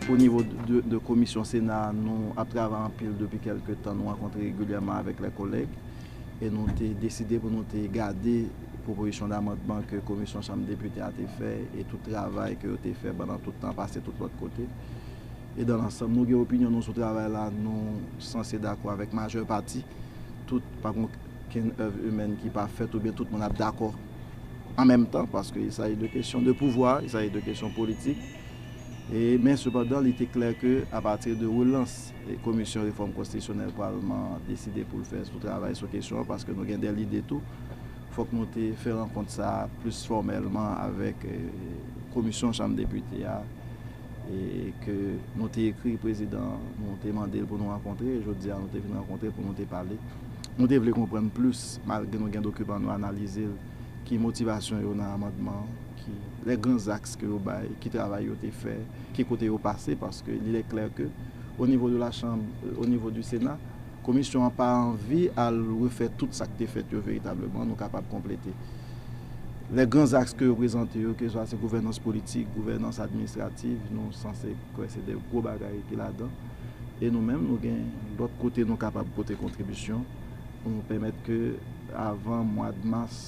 O nivo de komisyon Sena a, nou ap travay anpil depi kèlke tan, nou rankontre regilyèman avèk lè kolèg e nou te deside pou nou te gade. pwopozisyon damandman ke komisyon chanm depite a te fè e tout travay ke yo te fè pandan tout tan pase tout lòt kote. E dan lansanm nou gen opinyon nou sou travay la, nou sanse dakò avèk majè pati, tout, pa gen okenn èv imèn ki pa fèt oubyen tout moun ap dakò an menm tan, paske il saji de kesyon de pouvwa, il saji de kesyon politik, e men sepandan li te klè ke apati de relans. Komisyon Refòm Konstitisyonèl Palman an deside pou l fè sou travay sou kesyon an paske nou gen de lide tou. Fòk nou te fè rankont sa a plis fòmèlman avèk Komisyon Chanm Depite a ke nou te ekri Prezidan an, nou te mande l pou nou rankontre. Jodi a nou te vin rankontre pou nou te pale. Nou te vle konprann plis, malgre nou gen dokiman an, nou analize l, ki motivasyon yo nan amandman an. les grands axes ke yo bay, ki travay yo te fè, ki kote yo pase, paske il est clair que au niveau de la chambre, au niveau du Sénat, Komisyon an pa anvi al refè tout sa ki te fèt yo veritableman, nou kapab konplete. Les grands axes ke yo prezante yo, keswa se gouvènans politik, gouvènans administrative, nou sanse kwè se de gwo bagay ki ladan, e nou menm nou gen lòt kote nou kapab pote kontribisyon pou nou pèmèt ke avan mwad mas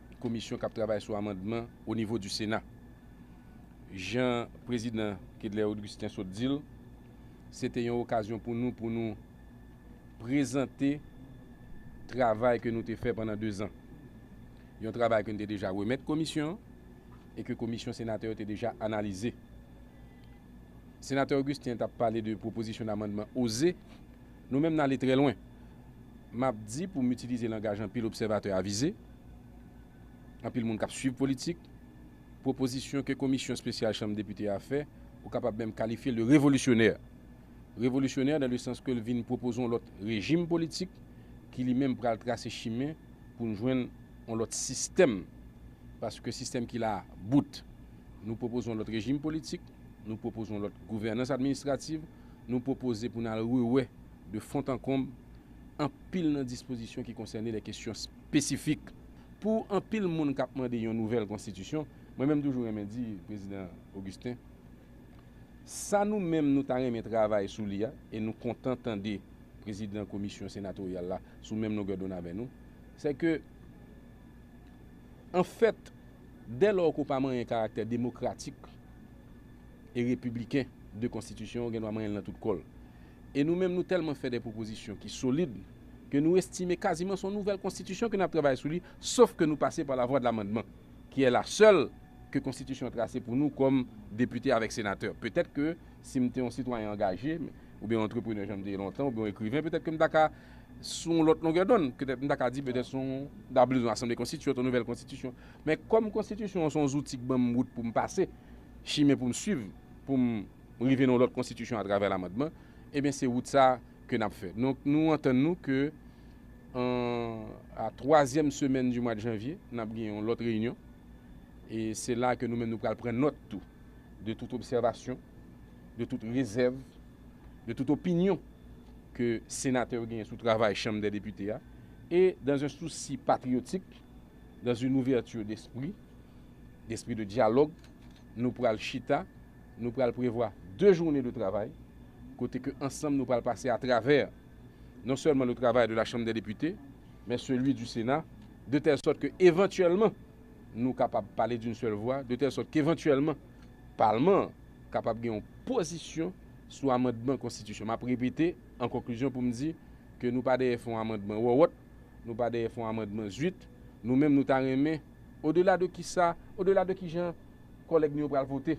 komisyon kap travay sou amandman o nivo di sena. Jan prezidan Kedlaire Augustin sot di l, se te yon okazyon pou nou pou nou prezante travay ke nou te fè pandan 2 zan. Yon travay ke nou te deja remèt komisyon an e ke komisyon senatè yo te deja analize. Senatè Augustin tap pale de pwopozisyon damandman oze Nou menm n ale trè lwen. M ap di pou m itilize langaj anpil obsèvatè avize, anpil moun k ap suiv politik, pwopozisyon ke komisyon espesyal chanm depite a fè, ou kapab menm kalifye l de revolisyonè. Revolisyonè dan le sans ke l vin pwopoze yon lòt rejim politik ki li menm pral trase chimen pou n jwenn yon lòt sistèm paske sistèm ki la a bout. Nou pwopoze yon lòt rejim politik, nou pwopoze yon lòt gouvènans administrativ, nou pwopoze pou n al rewè de font an konb anpil nan dispozisyon ki konsène de kesyon spesifik. Pou anpil moun k ap mande yon nouvèl konstitisyon, mwen menm toujou renmen di Prezidan Augustin, sa nou menm nou ta renmen travay sou li a, e nou kontan tande Prezidan Komisyon Senatoryal la sou menm longè donn avè nou, sè ke anfèt dèlò ke w pa manyen karaktè demokratik, e repibliken de konstitisyon gen dwa manyen l nan tout kò l. E nou menm nou tèlman fè de pwopozisyon ki solid ke nou estime kaziman s on nouvèl konstitisyon ke n ap travay sou li sof ke nou pase pa lavwadlamandman ki è la sèl ke konstitisyon trase pou nou kòm depite avèk senatè. Petèt ke si m te yon sitwayen angaje oubyen yon antreprenè jan m te ye lontan oubyen yon ekriven petèt ke m ta ka sou yon lòt longè dond petèt m ta ka di petèt s on m ta bliz yon asanble konstitiyant yon nouvèl konstitisyon men kòm konstitisyon an s on zouti k ban m wout pou m pase chimen pou m swiv pou m rive nan yon lòt konstitisyon atravè lamandman, ebyen se wout sa a ke n ap fè. Donk nou antann nou ke an a twazyèm semèn di mwa de janvye n ap gen yon lòt reyinyon e se la a ke nou menm nou pral pran nòt tou de tout obsèvasyon, de tout rezèv, de tout opinyon ke senatè yo genyen sou travay chanm dè depite a e dan un souci patriotique, dans une ouverture d'esprit, Espri de dyalòg, Nou pral chita, nou pral prevwa 2 journe de travay kote ke ansanm nou pral pase atravè non sèlman le travay de la Chanm dè Depite men celui du Sena de tèl sòt ke evantyèlman nou kapab pale d'une sèl vwa, de tèl sòt ke evantyèlman Palman an kapab gen yon pozisyon sou amandman Konstitisyon. Map repete an konklizyon pou m di ke nou pa dèyè fè yon amandman wòwòt, nou pa dèyè fè yon amandman zuit, nou menm nou ta renmen. Odela de kisa, odela de kijan kòlèg nou yo pral vote.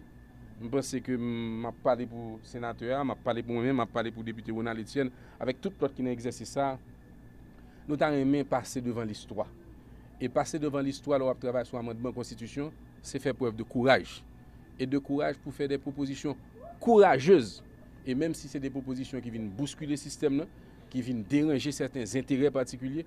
M panse ke m ap pale pou senatè a, m ap pale pou mwen menm, m ap pale pou depite Ronald Etienne avèk tout lòt ki nan egzèsis sa a, nou ta renmen pase devan listwa. E pase devan listwa lè w ap travay sou amandman konstitisyon, se fè prèv de kouraj. E de kouraj pou fè de pwopozisyon kourajez. E menm si se de pwopozisyon ki vin bouskile sistèm nan, ki vin deranje sèten zenterè patikilye,